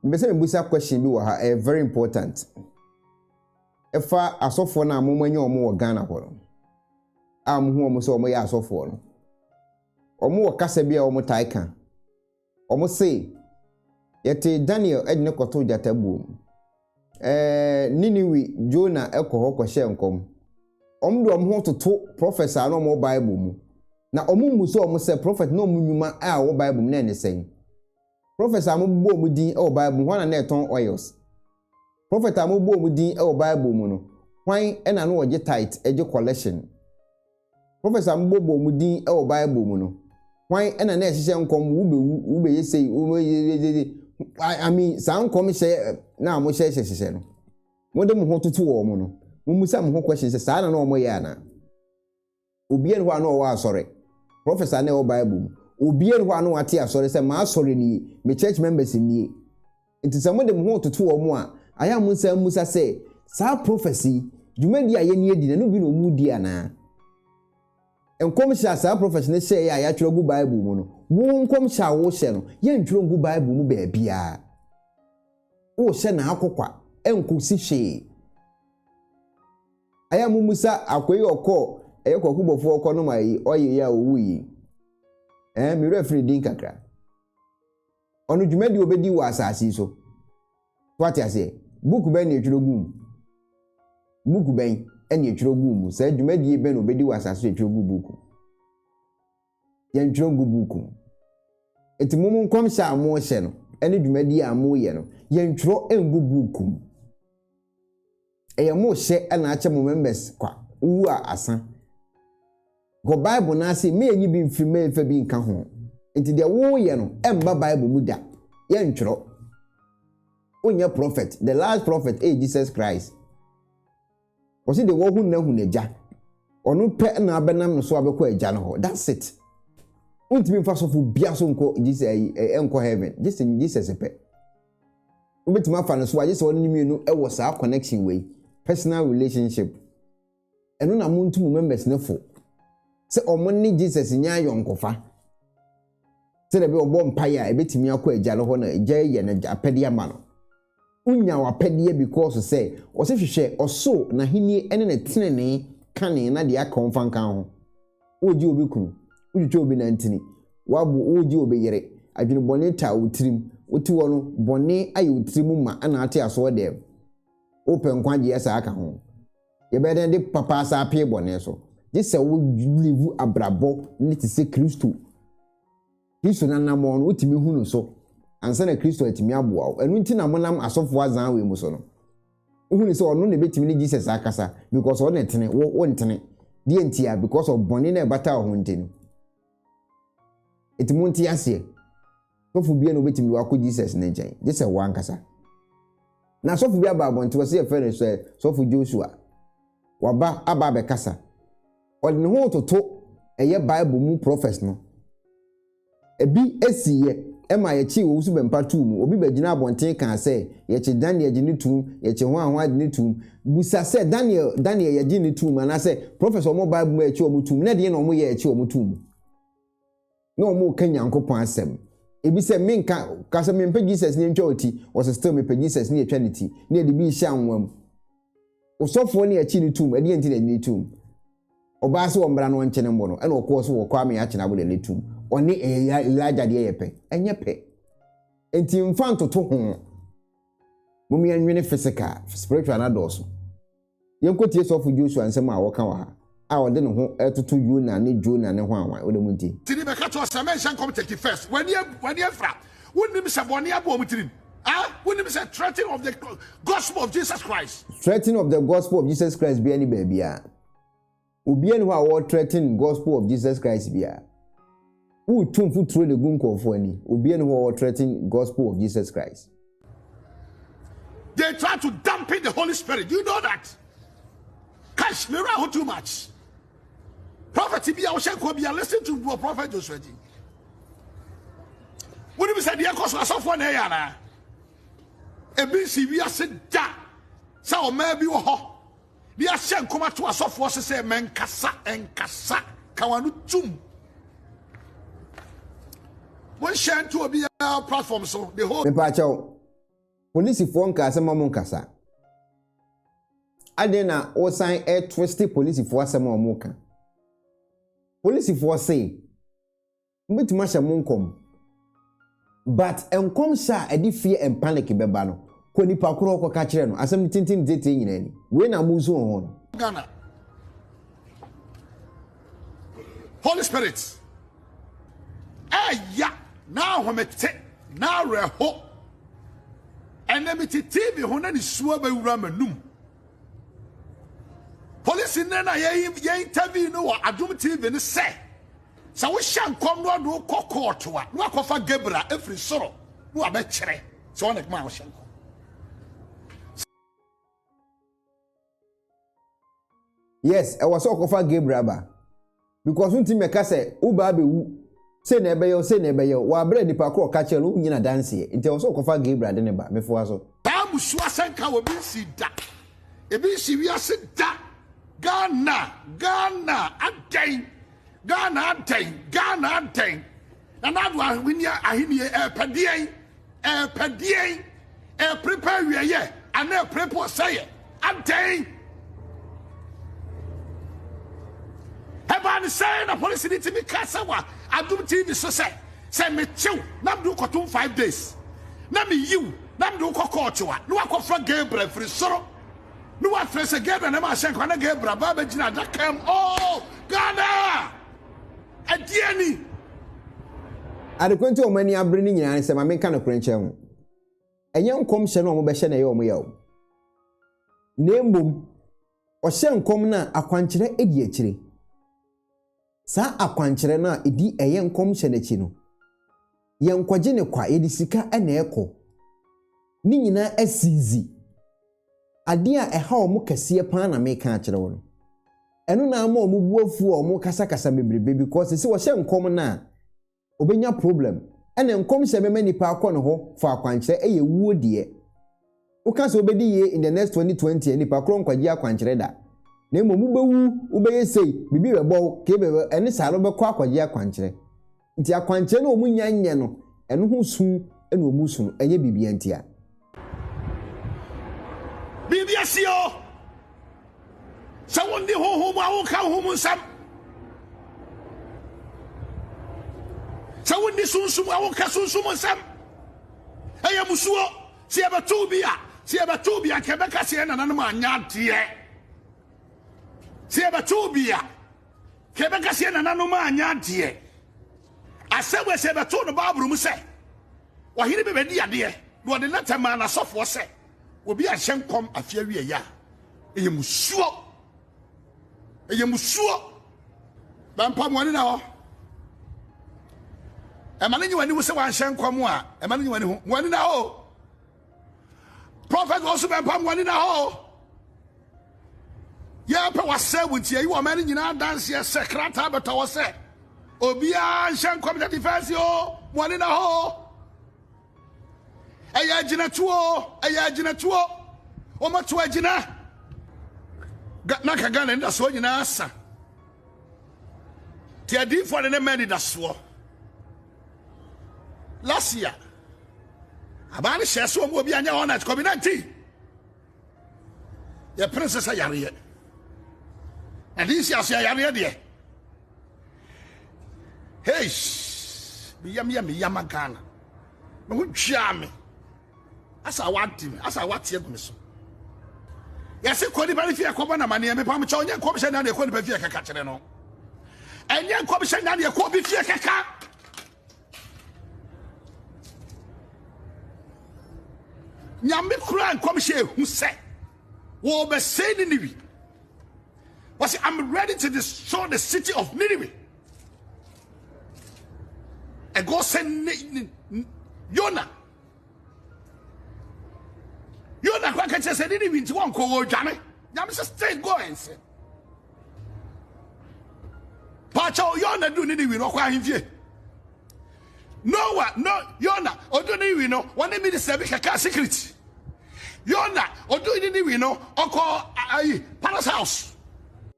Mepɛ sɛ mebisa question bi wɔ ha, ɛyɛ very important. Ɛfa asɔfoɔ no a wɔn anya wɔn wɔ Ghana hɔ no, a wɔhu wɔn sɛ wɔyɛ asɔfoɔ no. Wɔn wɔ kasa bi a wɔn taa ka. Wɔn se, yɛtee Daniel de no kɔtoo gyata buo mu. Ɛɛ Niniwi Jona kɔ hɔ kɔhyɛ nkɔm. Wɔn de wɔn ho toto prophets a na wɔn wɔ Bible mu. Na wɔn mmu sɛ wɔn sɛ prophet na wɔn nnwuma a wɔwɔ Bible mu na ɛne sɛn. Prophets a wɔbobɔ wɔn din wɔ Bible mu, hwan na na ɛtɔn oils? Prophets a wɔbobɔ wɔn din wɔ Bible mu no, hwan na na wɔgye tithe gye collection? Prophets a wɔbobɔ wɔn din wɔ Bible mu no, hwan na na ɛhyehyɛ nkɔm wobɛwu, wobɛyɛ sei, wobɛyɛ I mean saa nkɔmhyɛ na wɔhyɛ hyɛ hyehyɛ no, wɔde mo ho toto wɔn no, mommisa mo ho question sɛ saa na na wɔyɛ anaa? Obiara nni hɔ a na ɔwɔ asɔre. Prophets a na ɛwɔ Bible mu, obiara nni hɔ a na wate asɔre sɛ, M'asɔre nie, me church members nie. Enti sɛ mode mo ho retoto wɔn a, ayɛ a monsan mmisa sɛ, Saa prophets yi, dwumadi a yɛne adi no, ɛno bi na wɔredi anaa? Nkɔmhyɛ a saa prophets no hyɛeɛ a yɛatwerɛ agu Bible mu no, wo nkɔmhyɛ a worehyɛ no, yɛntwerɛ ngu Bible mu baabiara. Worehyɛ n'akokwa, ɛnkɔsi hwee. Ayɛ a mummusa akoa yi ɔkɔɔ ɛyɛ kwaku bɔfoɔ ɔkɔ nom ayi ɔyɛ yi a ɔwu yi ɛɛ me werɛ firi din kakra ɔno dwumadi ɔbɛdi wɔ asase yi so so ate aseɛ buku bɛn ne ɛtwerɛ gu mu buku bɛn ɛne ɛtwerɛ gu mu saa dwumadie bɛn na ɔbɛdi wɔ asase so ɛtwerɛ gu buku yɛntwerɛ gu buku mu ɛti mo mo nkɔmhyɛ a mohyɛ no ɛne dwumadie a moyɛ no yɛntwerɛ ngu buku mu Ɛyɛ mo hyɛ na akyɛ mo members kwa, wowu a asa. Kɔ Bible no ase mma yɛnyi bi mfiri mma yɛmfa bi nka ho. Nti deɛ woyɛ no ɛmba Bible mu da, yɛntwerɛ. Wonyɛ prophet, the last prophet ɛyɛ Jesus Christ. Wɔsi deɛ wɔhu nna hu n'agya. Ɔno pɛ na abɛnam no so abɛkɔ agya no hɔ, that's it. Wontumi mfa sɔfo bia so nkɔ Jesus ɛnkɔ heaven, Jesus Jesus pɛ. wobɛtumi afa no so a gye sɛ ɔne ne mmienu wɔ saa connection wei personal relationship ɛno na montu mo members no fo sɛ wɔn ne jesus nyɛ ayɔnkofa sɛdeɛ bi ɔbɔ mpaeɛ a ɛbɛtumi akɔ agya no hɔ na agya yɛ no apɛdeɛ ama no wonya wapɛdeɛ because sɛ ɔsɛ hwehwɛ ɔsoro n'ahennie ne ne tenenee kane na deɛ aka wɔn fa nka ho Woregye obi kunu, wotwitwa obi nantini, wabo, woregye obi yere, adwene bɔne taa wo tirim, wote hɔ no bɔne ayɛ wo tirim ma na ate aso dɛm. Wopɛ nkwagyeɛ saa ka ho. Yɛbɛyɛ dɛn de papa asa apee bɔne so? Gye sɛ wo live abrabɔ ne te sɛ Kristo. Kristo n'anammɔn no, wotumi hu no so ansa na Kristo atumi aboa wo. Ɛno nti na monam asɔfo azan wei mu so no, wohu no sɛ ɔno na ebetumi ne Jesus akasa because ɔno na ɛtene, wo wontene. Deɛ ntia, because of bɔne na ɛbata wo ho nti no. Eti monte aseɛ. Sɔfo biara na obetumi de wakɔ Jesus ne nkyɛn, gye sɛ wankasa. Na sɔfo bi aba abɔnten hɔ sɛ yɛfrɛ no sɛ sɔfo Joshua. Waba aba abɛkasa. ɔde ne ho retoto ɛyɛ Bible mu prɔfɛs no. Ebi si yɛ ɛma yɛkyee owu so bɛmpa too mu. Obi bɛgyinaa abɔnten kaa sɛ, Yɛkye Daniel gye no toom, yɛkye hwan hwan gye no toom. Bisa sɛ, Daniel, Daniel yɛgye no toom? Anaasɛ, Prɔfɛs a wɔn Bible mu a yɛkye wɔn toom, na ɛdeɛn na wɔyɛɛ a ɛkyee wɔn too mu? na wɔn reka Nyankopɔn asɛm. Ebi sɛ menka ka sɛ mempɛ Jesus ne ntwa ɔti, wɔsɛ still mepɛ Jesus ne yɛtwa ne ti ne yɛde bi rehyɛ anwa mu. Osɔfoɔ ne akyi ne tum, ɛdeɛ nti na ɛde ne tum. Ɔbaa sɛ wɔmmra na ɔnkyɛ ne mbo no, ɛna ɔkɔɔ so wɔ kɔ ame akye n'abo de ne tum. Ɔne ɛyɛ Elijah deɛ yɛ pɛ, ɛnyɛ pɛ. Enti mfa ntoto ho. Mom yɛnwene physical, spiritual no adɔɔso. Yɛnkɔtie Sɔfo Joshua nsɛm a ɔka wɔ ha a ɔde ne ho retoto Yona ne Jonah ne hwanwan wɔ ne mu nti. Tiri bɛka kyerɛ wo sɛ menhyɛ nkɔm take it first w'ani abu w'ani afira wonnim sɛ bɔne abɔ wɔn tirim ah wonnim sɛ threatening of the gospel of Jesus Christ. Threatening of the gospel of Jesus Christ biara ni baabiara. Obiara ni hɔ a ɔɔ threaten gospel of Jesus Christ biara. Wo tu mfuturo de gu nkurɔfoɔ ani. Obiara ni hɔ a ɔɔ threaten gospel of Jesus Christ. They try to dampen the Holy Spirit. Do you know that? Cash, me wura ho too much. Prophet bi a ɔhyɛ nkuo bi a listen to wɔ Prophet Joshua Ji. Wọ́n ní bi sẹ́ deɛ kọ́ so asọ́fọ́ náà yà náà. Ebi nsi wiase da sẹ́ ọ̀ma bi wọ hɔ. ne yɛahyɛ nkɔm ato asɔfoɔ se sɛ mankasa nkasa ka wɔn ano tum monhyɛ nto obiara platform so the whole mepaakyɛw polisifoɔ nka asɛm a monkasa adɛn na wosan ɛtwiste polisifoɔ asɛm a wɔka polisifoɔ se mobɛtumi ahyɛ mo nkɔm but nkɔmhyɛ a ɛde fear and panic bɛba no kɔ nipa korɔ hɔ kɔka kyerɛ no asɛm no tintin dzetee nyinaa ni wei na mosu wɔ ho no Ghana Holy Spirit ɛya n'ahomete n'awerɛho ɛnɛ mete TV ho na ne suo bɛwura m'anum polisi nnɛ na yɛn interview no wɔ Adum TV no sɛ Sɛ wohyɛ nkɔm na ɔde wo kɔ court a, na wakɔfa Gabriel afiri soro na wabɛkyerɛ sɛ ɔne maa wohyɛ nkɔm. Yes, ɛwɔ sɛ ɔkɔfa Gabriel ba. Because wontumi mɛka sɛ wo ba abɛwu sei na ɛbɛyɛ wo sei na ɛbɛyɛ wo. Wɔabrɛ nipa korɔ ka kyerɛ no wonyi no adanseɛ. Nti ɛwɔ sɛ ɔkɔfa Gabriel de ne ba. Mefoa so. Saa mmusuo asɛnka wɔ bi nsi da. Ebi nsi wiase da. Ghana, Ghana, adɛn? Ghana adɛn Ghana adɛn na n'ado ahwenni ahenni ɛrepɛ deɛn ɛrepɛ deɛn ɛreperepe awieɛ anaa ɛreperepe ɔsɛeɛ adɛn ɛbaa ne sɛ na polisi ne tumi ka sɛ wa adom tv so sɛ sɛ mekyew na mede wokɔtom five days na meyiw na mede wokɔ kɔɔte wa na wakɔfra gabriel firi soro ne wafrɛ sɛ Gabriel na mahyɛ nkwa na Gabriel aba abɛgyina adaka mu oh Ghana ɛdeɛ ni. Adekoro nti wɔn ani abere ne nyinaa ne sɛ maame nka no korɛ nkyɛn ho ɛnyɛ nkɔmhyɛ no a wɔbɛhyɛ na ɛyɛ wɔn yaw na mmom ɔhyɛ nkɔm no a akwankyerɛ edi akyire. Saa akwankyerɛ no a ɛdi ɛyɛ nkɔmhyɛ no akyi no, yɛnkɔgye no kwa, yɛde sika na ɛkɔ. Ne nyinaa asiizi. Adeɛ a ɛha wɔn kɛseɛ paa na meka akyerɛ wo no. Ɛno na ama wɔn bo afu a wɔkasakasa bebrebe because sɛ wɔhyɛ nkɔm no a, obenya problem ɛna nkɔm sɛ mɛma nipa akɔ ne hɔ for akwankyerɛ ɛyɛ wuo deɛ woka sɛ wobɛdi yie in the next twenty twenty a nipa korɔ nkwagye akwankyerɛ da na mmom wobɛwu wobɛyɛ sei biribi bɛbɔ wo kei bɛbɛ ɛne saa no wobɛkɔ akɔgye akwankyerɛ nti akwankyerɛ no wɔn nnya nyɛ no ɛno ho su ɛna wɔn su no ɛnyɛ biribia ntia. biribi asie o sɛ wondi honhom mu a wonka honhom mu nsɛm sɛ wondi sunsum a wonka sunsum mu nsɛm ɛyɛ musuo sɛ yɛbɛtow bi a sɛ yɛbɛtow bi a nka ɛbɛka sɛ yɛn nananom anyɛ adeɛ sɛ yɛbɛtow bi a nka ɛbɛka sɛ yɛn nananom anyɛ adeɛ Asɛm wei sɛ yɛbɛtoo no Bible mu sɛ, Ɔhene bi bɛdii adeɛ, na ɔde lɛtɛ maa n'asɔfoɔ sɛ, Obi anhyɛ nkɔm afe awieeɛ a, ɛyɛ musuo. Ɛyɛ musuo. Bɛmpa mo ani na hɔ. Ɛma no nye w'ani ho sɛ wanhyɛ nkɔm a, ɛma no nye w'ani ho. Mo ani na hɔ o. Prophet wɔn so bɛpam wɔn nina hɔ. Yɛpɛ wasɛ wo nti ayi wɔn mɛne nyinaa danseɛ sɛ krataa bɛtɔ wɔ sɛ obiara nhyɛ nkɔm sɛ defɛnsi o wɔn nina hɔ. Ɛyɛ agyinatuo ɛyɛ agyinatuo wɔn ato agyina na ka Ghana nda soɔ nyinaa sa. Ti adiifoɔ ne ne mma anidasoɔ. Last year, abaa no hyɛɛ sɛ ɔmo obi anyɛ all night kɔbi nanti. Yɛpere sɛ sɛ yareɛ. Na de nsi ase yareɛ deɛ. Hey, meyam yɛ meyama Ghana. Me ho twaa me. asa wadi me asa wati agu me so yɛse kɔ nipa no fie ɛkɔbɔ na maneɛ mepa mekyɛ ɔnyɛ nkɔmhyɛ nane ɛkɔ nipa fie kɛka kyerɛ no ɛnyɛ nkɔmhyɛ nane ɛkɔ obi fie kɛka nyame kura nkɔmhyɛ ehu sɛ wɔbɛsɛe Niniwi wɔsi I'm ready to destroy the city of Niniwi ɛgɔ sɛ Yona yona kɔ ka kyerɛ sɛ ne ne wi nti wɔnkɔ wɔredwane nyame sɛ stay go and sin paakyɛw yona du ne ne wi no ɔkɔ ahemfie noa no yona ɔdu ne wi no wɔne minister bi kɛkaa secret yona ɔdu ne ne wi no ɔkɔ ayi palace house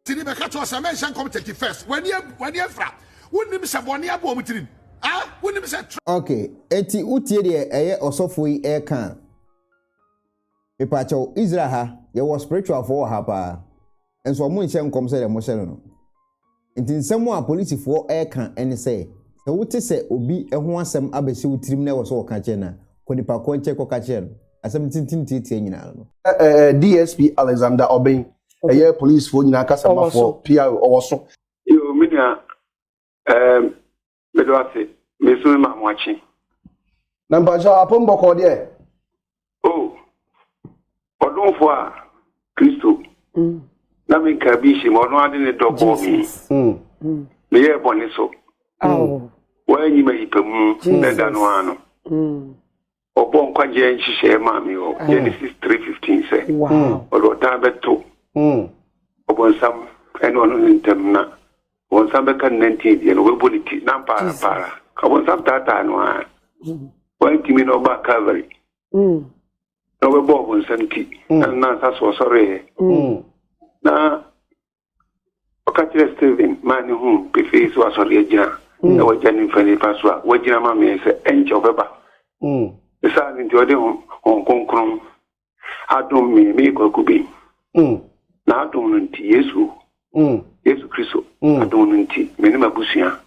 tini bɛka kyerɛ sɛ mɛnhyɛ nkɔm take first wani afira Wonnim sɛ bɔne abɔ wɔn tirim? Ah, wonnim sɛ. Ok, enti wotie deɛ ɛyɛ ɔsɔfoɔ yi ɛreka a? Mepaakyɛw, Israel ha, yɛwɔ spiritualfoɔ wɔ ha paa, nso wɔn nhyɛ nkɔm sɛdeɛ mohyɛ no no. Enti nsɛm a polisifoɔ ɛreka ne sɛ, sɛ wote sɛ obi ho asɛm abɛhyɛ wo tirim na ɛwɔ sɛ wɔka kyerɛ no a, kɔ nipa korɔ nkyɛn kɔka kyerɛ no. Asɛm no tenten tiatia nyinaa no no. DSP Alexander Obeng, ɛyɛ polisifoɔ nyinaa kasamafɔɔ, PRO, ɔwɔ so. Yo, me nua, um, mede wase, mesu me maa mo akye. Na mpakyɛ apem bɔkɔɔ deɛ. O, ɔdomfo a, Kristo. Mm. Na me nka bi hyɛ mu, ɔno ade ne dɔ bɔɔ me. Mm. mm. Meyɛɛ bɔne so. Awo. Mm. Wɔanyi ma yipa mu, na da no ano. Mm. Ɔbɔɔ nkwagyeɛ nhyehyɛeɛ maa me wɔ mm. Genesis 3:15 sɛ ɔde ɔtaa bɛto mm. ɔbɔnsam ɛne ɔno ne ntam na ɔbɔnsam bɛka ne nantin deɛ na ɔbɛbɔ ne ti na mpaara mpaara ɔbɔnsam taataa no a mm. wantumi na ɔbaa Calvary na ɔbɛbɔ ɔbɔnsam ti na nansa so ɔsɔreeɛ na Ɔka kyerɛɛ Stephen maa no huu pefee sɛ wasɔre agyina mm. na wagya ne mfa nifa so a wagyina ma me sɛ ɛnkyɛ ɔbɛba. Mm. Saa no nti ɔde Honhom Kronkron adom me meekɔ akubem. Mm. Na adom no nti Yesu Yesu Kristo adom no nti me ne m'abusua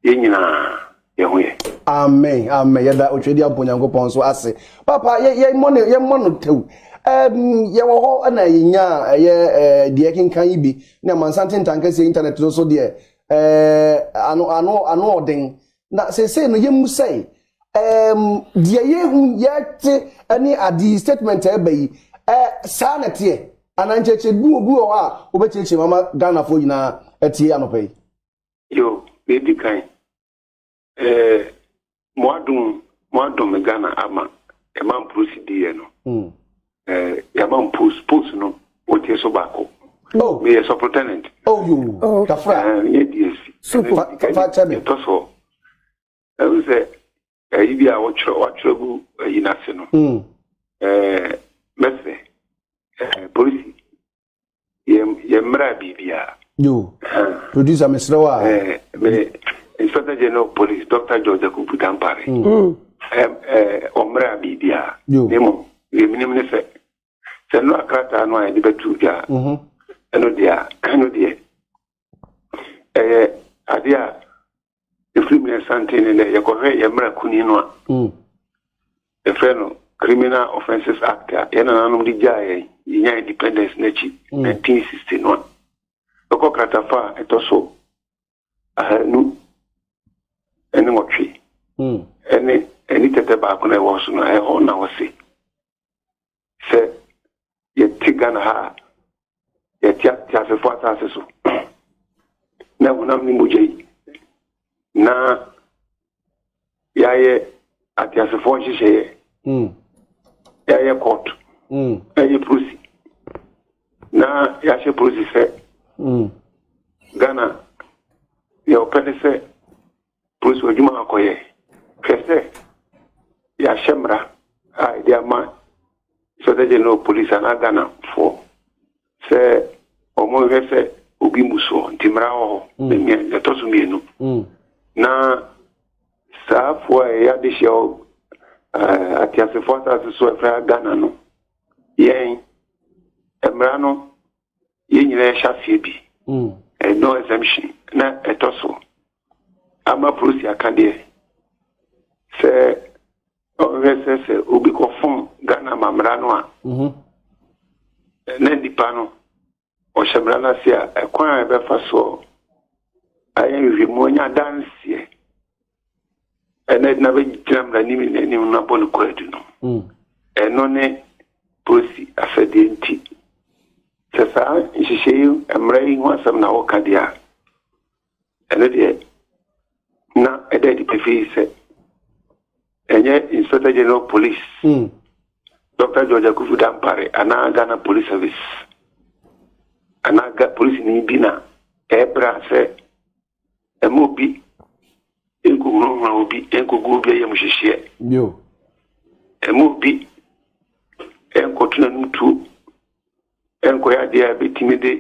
yɛn nyinaa yɛn ho yɛ. amen amen yɛda otwa di abɔ nyankopɔn so ase papa yɛmmɔ no yɛmmɔ no tɛw yɛwɔ hɔ na yɛnya ɛyɛ deɛ kenkan yi bi ne amansanten ntankɛseɛ internet no so deɛ ano ano ano ɔden na seesei no yɛmmu sɛe deɛ yɛhu yɛte ne ade yi statement ɛba yi saa na ɛteɛ anaa nkyerɛkyerɛ bi wɔ bi wɔ hɔ a wobɛkyerɛkyerɛ mama ghanafoɔ nyinaa atie anɔpa yi Yo, na edi kan. Ɛɛ, mo adom, mo adom me Ghana ama ɛma mposi di yɛ no. Hmm. Ɛɛ, yɛama mpos, pos no, wotie so baako. Oh. Meyɛ sɔprotenant. Oh, yo. Oh. Kafra. Ɛɛ, yɛ DSC. Super. Fa kyɛ me. Ɛtɔ so. Ɛhu sɛ, ɛyi bi a wɔtwerɛ wɔatwerɛ gu ɛyi no ase no ɛɛ mɛsɛ ɛɛ polisi yɛ yɛ mmerɛ biribiara. yo producer mesrɛ wo a ɛɛ me inspector general of police dr george akubu dampare ɛɛ ɛɛ ɔmmerɛ biribiara ne mu yɛ menim ne sɛ sɛ nnora krataa no a yɛde bɛtu dwa ɛno deɛ ɛno deɛ ɛyɛ adeɛ a ɛfiri mmerɛ santen ne nɛ yɛkɔhwɛ yɛ mmara kuni no a hmm. yɛfrɛ no criminal offences act a yɛn nananom de gyaa yɛn yɛnya independence no akyi 1960 hmm. no a bɛkɔ kratafa a ɛtɔ so ahanu ɛne nwɔtwe hmm. ɛne ɛne tɛtɛ baako na ɛwɔ so no ɛhɔ na wɔse sɛ yɛte Ghana ha a, yɛte ateasefo asase so na honam ne mogya yi na yɛayɛ ateasefoɔ nhyehyɛeɛ hmm. yɛayɛ court hmm. yɛayɛ prosi na yɛahyɛ prosi sɛ hmm. ghana deɛ ɔpɛ ne sɛ Polis wɔ adwuma a ɔkɔyɛ. Hwɛ sɛ yɛahyɛ mmara a yɛde ama Inspector General of Police anaa Ghanafoɔ sɛ wɔnhwɛ sɛ obi mu soɔ nti mmara wɔ hɔ. Mm. Nea nea ɛtɔ so mmienu Mm. na saa afoɔ a ɛyɛ adehyeɛ wɔ ɛɛ ateasefoɔ asase so a ɛfrɛ ha Ghana no yɛn mmara no yɛn nyinaa hyɛ aseɛ bi mm. eh, no exemption na ɛtɔ so ama prosi aka deɛ sɛ ɔhwɛ sɛ sɛ obi kɔfom ghana mammara no a mhm. eh, na nnipa no ɔhyɛ mmara no ase a ɛkwan a ɛbɛfa soɔ ayɛ nhwehwɛmu anya adanseɛ ɛna ɛdina bɛgyina mmaranim nyinaa anim na bɔ no kwaadu no mm. ɛno ne polisi asɛdeɛ nti sɛ saa nhyehyɛ yi mmara yi ho asɛm na woka deɛ a ɛno deɛ na ɛda adi pefee sɛ ɛnyɛ inspector general police mm. dr george akufu dampare anaa ghana police service anaa polisi ni bi na ɛbra sɛ Mma obi nkohunahuna obi nkogu obi ayamuhyehyeɛ. Yo. Mma obi nkɔto n'anom tuo nkɔyɛ adeɛ a ɛbɛtumi de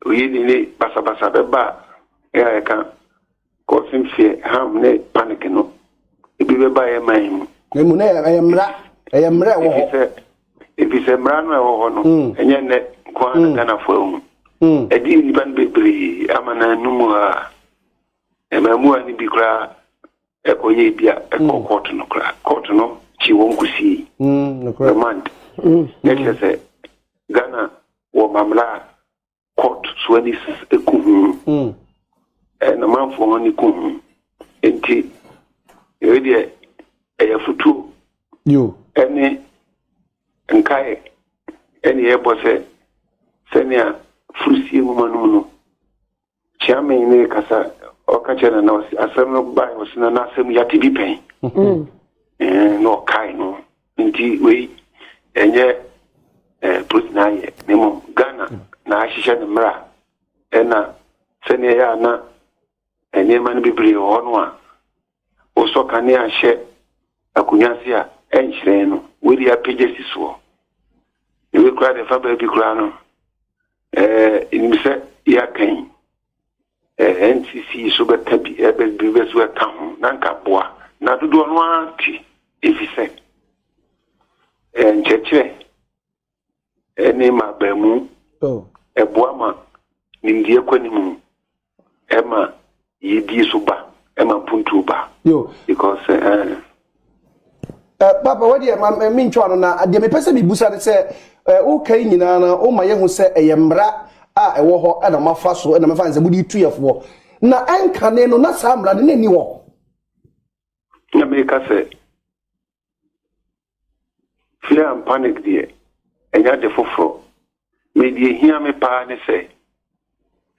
oyini ne basabasa bɛba a ɛka causing fear harm ne panic no ebi bɛba yɛ man mu. Emu na ɛyɛ mmara ɛyɛ mmara ɛwɔ hɔ. Efisɛ mmara no a ɛwɔ hɔ no, mm. ɛnyɛ nnɛ nko ara na mm. Ghanafo ahu. Mm. Ɛde nnipa no bebree ama na anum a mmaamuwa no bi koraa ɛkɔyɛ bi a ɛkɔ kɔɔto no koraa. Kɔɔto no kyi wɔn kosii remand. Na kyerɛ sɛ Ghana wɔ mamla a court so ani ku ho mm. eh, na manfoɔ ho ani ku ho nti ɛwei deɛ ɛyɛ fotuo ɛne nkae ɛne ɛbɔ sɛ sɛnea furusie nwoma no mu no kyeame ne kasa ɔka kyerɛ nana ɔse asɛm no bae ɔse nana asɛm yɛate bi pɛn mm. eh, na ɔkae no Nti wei ɛnyɛ eh, polisi na ayɛ na mmom Ghana mm. na ahyehyɛ ne mmara ɛna sɛnea ɛyɛ a na nneɛma no bebree wɔ hɔ no a wosɔ kanea hyɛ akonnwa ase a ɛnhyerɛn no wei de apagya si soɔ na wei koraa deɛ fa baabi koraa no ɛɛ nim sɛ yɛakan eh, NCC so bɛka bi, ɛbɛ bi bɛ so ɛka ho, na nka boa. Na dodoɔ no ara te, ɛfiri sɛ eh, nkyerɛkyerɛ ɛne ma baamu oh. ɛboa ma nimdeɛ kɔ anim ɛma yɛdie so ba ɛma mpuntuo ba because eh, Eh, papa wɔde ɛma eh, mentwa ano na deɛ mepɛ sɛ mebusa ne sɛ eh, woka yi nyinaa no woma yɛhu sɛ ɛyɛ mmara a ɛwɔ hɔ ɛna mafa so ɛna mɛfa ne sɛ mode tu yɛfoɔ na ɛnkane no na saa mmara no na ɛni hɔ na meka sɛ fear and panic deɛ ɛnyɛ ade foforɔ Me deɛ ehia me paa ne sɛ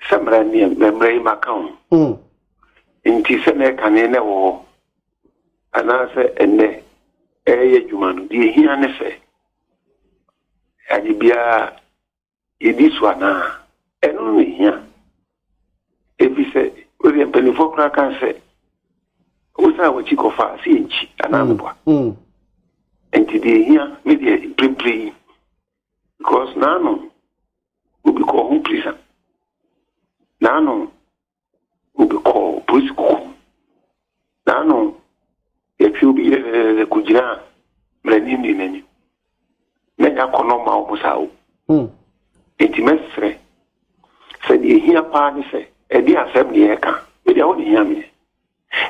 sɛ mmara ni mmara yi ma ka ho mm. nti sɛ na ɛkane na ɛwɔ hɔ anaasɛ ɛnɛ ɛyɛ adwuma no deɛ ehia ne sɛ ade biara yɛdi so anaa ɛno no na ehia efi sɛ wɔde mpanimfoɔ koraa kan sɛ wosan wɔakyi kɔfa sɛ yɛnkyi anaa meboa mm, mm. nti deɛ ehia me deɛ mprempren yi Because naano obi kɔɔ ho prison. Naano obi kɔɔ polisi kuku. Naano yɛtwe obi yɛdɛdɛdɛ kogyina mmerɛni nni n'anim. Na ɛnyɛ akɔnɔ mma wɔn saa o. Hmm. Nti mɛsrɛ sɛ deɛ ɛhia paa ne sɛ ɛde asɛm deɛ ɛka ɛde awo ne hia meɛ.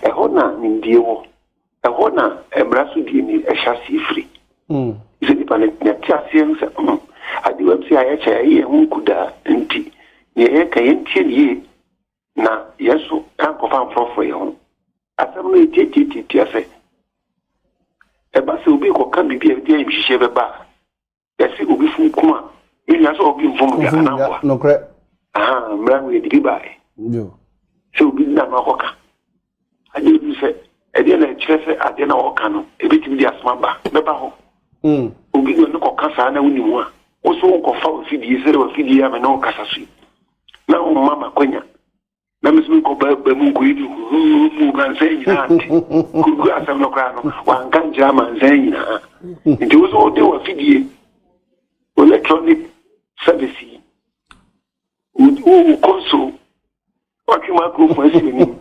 Ɛhɔ na nimdeɛ wɔ. Ɛhɔ na mmara so die ni ɛhyɛ aseɛ firi. Mm. Sɛ nipa no nya te aseɛ ho sɛ mm, ade wam sɛ ayɛ kyɛ yɛyɛ yɛn ho nku daa nti neɛ yɛka yɛntie ne yie na yɛn so ankɔfa mforɔfoɔ yɛn ho. Asɛm no ɛtiatiatiatia sɛ ɛba sɛ obi kɔka biribi a ɛde ayamhyehyeɛ bɛba a, yɛse obi fom kum a menya sɛ obi mfom dwa anaa mmoa nokorɛ mmara mu yɛde bi baeɛ sɛ obi na no akɔka agye obi sɛ ɛdeɛ na ɛkyerɛ sɛ adeɛ na wɔka no ɛbɛtumi de asoma ba bɛba hɔ mm. obi na ɔne kɔka saa na wonim a wo so wonkɔfa wafidie sɛde wafidie a mene wo kasa so yi na womma makwanya na mesɛ mekɔ ba mu nkɔyi ne huhuu mu mansa nyinaa nte kurugu asɛm no koraa no wanka nkyerɛ amansa nyinaa nti wo sɛ wode wafidie electronic service yi wo kɔnso watwe microphone asi anim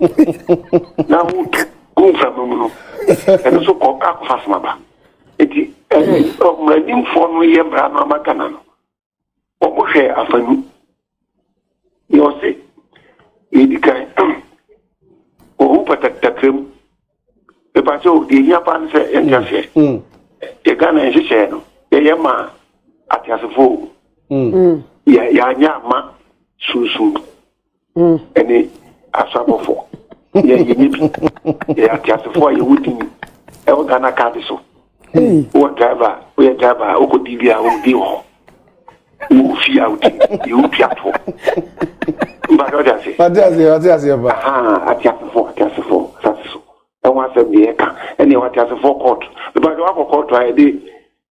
na wotu gu mframa mu no ɛno so kɔ akɔfa somaba nti mmaranimfoɔ no yɛ mmara no ama ghana no wɔhwɛɛ afa no deɛ ɔse yɛdi kan ohu pataktakra mu mepa sɛ o deɛ hia paa no sɛ yɛnte aseɛ mm, mm. yɛ ghana nhyehyɛɛ no yɛyɛ ma ateasefoɔ mm. yɛanyɛ ama sunsum ɛne asabɔfo yɛ yɛnyɛ bi yɛyɛ ateasefo a yɛwɔ din ɛwɔ ghana kaade so wowɔ driver woyɛ driver a wokɔ din bi a wodi wɔ hɔ wo fie a wodi yɛwo piafoɔ mpasɛ wode ase ateasefo ateasefo asase so ɛho asɛm deɛ ɛka ɛne ɛwɔ ateasefo kɔɔto mpasɛ woakɔ kɔɔto a yɛde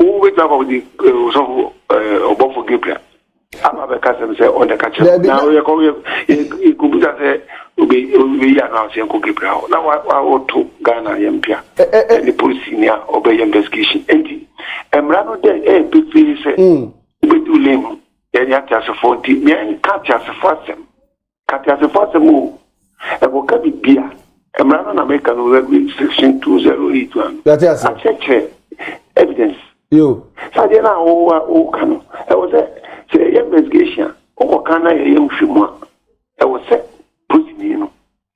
wobɛtumi akɔ de ɔsɔfo ɔbɔfo gabriel aba bɛka sɛm sɛ ɔna ka kyerɛ na yɛkɔ yɛkɔbusa sɛ obɛyi ano a sɛ yɛnkɔ gabriel hɔ na wɔto ghana yɛmpia ɛne polisi ni a ɔbɛyɛ investigation nti mmara no dɛ ɛyɛ pefee sɛ wobɛdi wo lane mu yɛne ateasefoɔ nti meɛnka ateasefoɔ asɛm Ka teasefo asɛm o. Ɛkɔka biribi a, mmara no na meka no, section 208 one. Yɛate ase. Akyerɛkyerɛ evidence. Yo. Sɛ adeɛ no a wowa woka no, ɛwɔ sɛ sɛ yɛyɛ investigation a, wokɔka na yɛyɛ nhwɛmu a, ɛwɔ sɛ polisini no.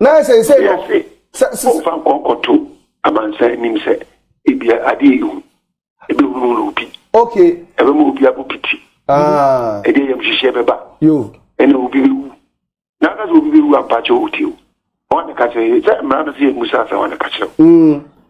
Na seesei no, sɛ. Wɔmfa nkɔ nkɔto amansan anim sɛ ebia adeɛ yi hu, ɛbɛhunu no obi. Okay. Ɛbɛma obi abɔ piti. Ah. Ɛde ayamhyehyeɛ bɛba. Yo. Ɛna obi bɛwu. Na aka sɛ obi bɛwu ampakyɛ ɔwɔ ti o. Wɔn na ka kyerɛ sɛ mmara no sɛ yɛ musa asɛ wɔn na ka kyerɛ o. Mm.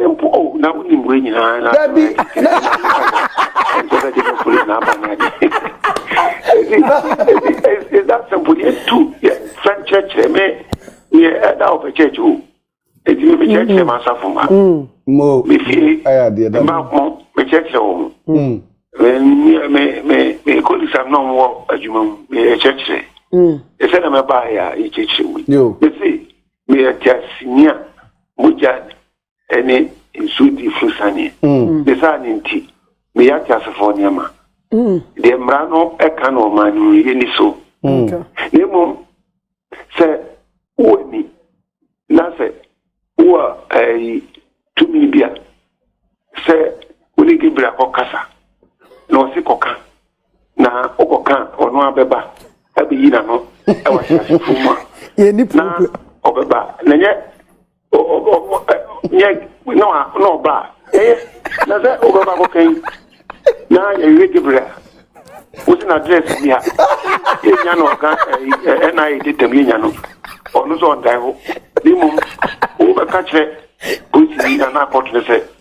simple o oh, na wonim wei nyinaa na dabi ɛnkyɛ sɛ gyeme police na aba no ade is that simple yɛtu fɛm kyerɛkyerɛ me yɛ ɛda wɔ pɛkyɛkye o ɛti me mekyerɛkyerɛ m'asafo ma mefie mbaako mekyerɛkyerɛ wɔ ho mekolisam na ɔmwɔ adwuma mu mekyerɛkyerɛ ɛsɛ na mɛbaayɛ a yɛkyerɛkyerɛ mu mese Meyɛ teaseni a mogya ne nsuo di firi saneɛ. Mm. Ne saa ne nti, meyɛ ateasefoɔ nneɛma. Mm. Deɛ mmara no ka no ɔman no yɛ ni so. Mm. Na mmom sɛ wowɔ ni na sɛ wowɔ ɛyi eh, tumi bi a sɛ wone Gabriel kɔkasa na ɔse kɔka na ɔkɔka ɔno abɛba abɛyi n'ano ɛwɔ ahyɛasefo mu a na ɔbɛba na nyɛ nyɛ na ɔba a ɛyɛ na sɛ ɔbɛba kɔka yi na yɛwie gebrɛ a wosi na adrɛs bi ha yɛnya no ɔka ɛna yɛ detam yɛnya no ɔno sɛ ɔndae hɔ ne mmom wobɛka kyerɛ polisi anaa kɔto no sɛ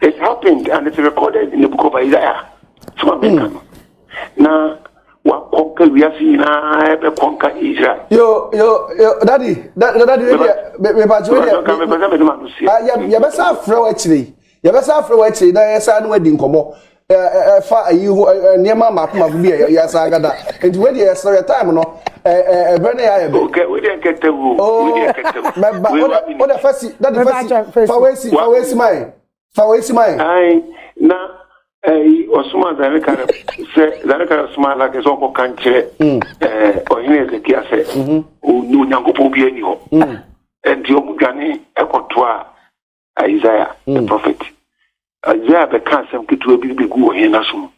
it happened and it's recorded in the book of isaiah so ma menka no na wakɔnka wiase nyinaa ɛbɛkɔ nka israel yo yo yo dadi dadi mebakyɛ wo deɛ yɛbɛsa afrɛ wo akyire yɛbɛsa afrɛ wo akyire na yɛsa ne wadi nkɔmmɔ ɛfa ayi ho nneɛma mmaako mmaako bi yɛ yɛ asan agada nti wei deɛ yɛsrɛ yɛ time no ɛbrɛ ne yɛ ayɛ bɛ. okɛ wei deɛ nkɛtɛ wo wei deɛ nkɛtɛ wo. mɛba o de o de fɛsi dadi fɛsi fa wei si fa wei si ma yɛ fa wei si ma yɛ. ayi na ɛyi ɔsoma zanekara sɛ zanekara soma alakɛ sɛ ɔkɔ kan kyerɛ ɛɛ ɔhene ezekia sɛ onyankopɔn bi ani hɔ nti ɔmo dwane ɛkɔtoa. isaiah the mm. prophet isaiah bɛka asɛm ketewa bi bɛgu wɔ hɛn aso mu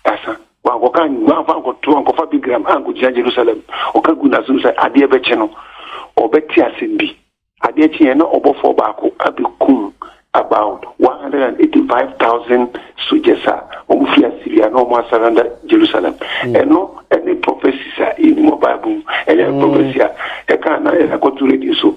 asa wankɔka wanfa nkɔto ankɔfa bigram ankɔgyina jerusalem ɔka gu n'aso mu sɛ adeɛ bɛkye no ɔbɛte asɛm bi adeɛ kyeɛ na ɔbɔfoɔ baako abɛkum about 185,000 soldiers a wɔn fi Assyria na wɔn asaranda Jerusalem. Hmm. Ɛno ɛne prophecies a ɛni wɔ Bible mu ɛyɛ hmm. prophecy a ɛka na ɛkɔto radio so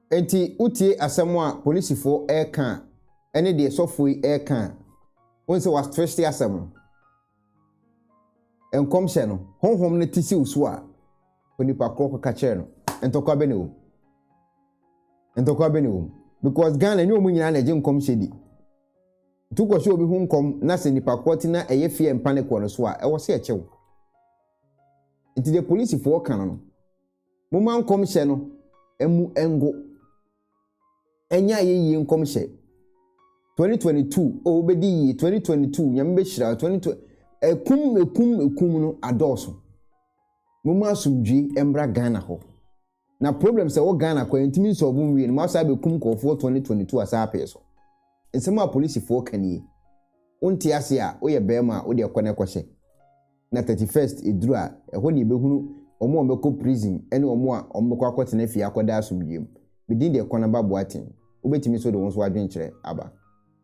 Enti wotie asɛm a polisifoɔ reka a, ne deɛ sɔfoɔ yi reka a, wohu sɛ wɔatwehye asɛm no. Nkɔmhyɛ no, honhom no te siw so a, onipa korɔ kɔka kyerɛ no. Ntɔkwa bɛ na ɛwɔ mu. Ntɔkwa bɛ na ɛwɔ mu. Because Ghana nyɛ wɔn nyinaa na ɛgye nkɔmhyɛ di. Nti wokɔhyɛ obi ho nkɔm na sɛ nipa korɔ te na ɛyɛ fear and panic wɔ no so a, ɛwɔ sɛ ɛkyɛ wo. Nti deɛ polisifoɔ ka no no, Momma nkɔmhyɛ no mmu ngo. Ɛnyɛ ayɛyie nkɔmhyɛ. 2022 o wobɛdi yie 2022 nyame bɛhyira 2020 ɛkum ɛkum ɛkum no adɔɔso. Momma asomdwie mmra Ghana hɔ. Na problem sɛ wɔ Ghana kɔ yɛntumi nsɔɔbo nwie no mo asaa bɛkum nkurɔfoɔ 2022 asaa apee so. Nsɛm a polisifoɔ ka nie. Wonte ase a woyɛ bɛrima a wode ɛkɔ no ɛkɔhyɛ. na thirty first eduru a, ɛhɔ na yɛbɛhunu wɔn a wɔbɛkɔ prison ne wɔn a wɔbɛkɔ akɔtena fie akɔda asomdwoeɛ mu. Me din de Kwanaba Boateng. Wobɛtumi nso de wo nso adwenkyerɛ aba.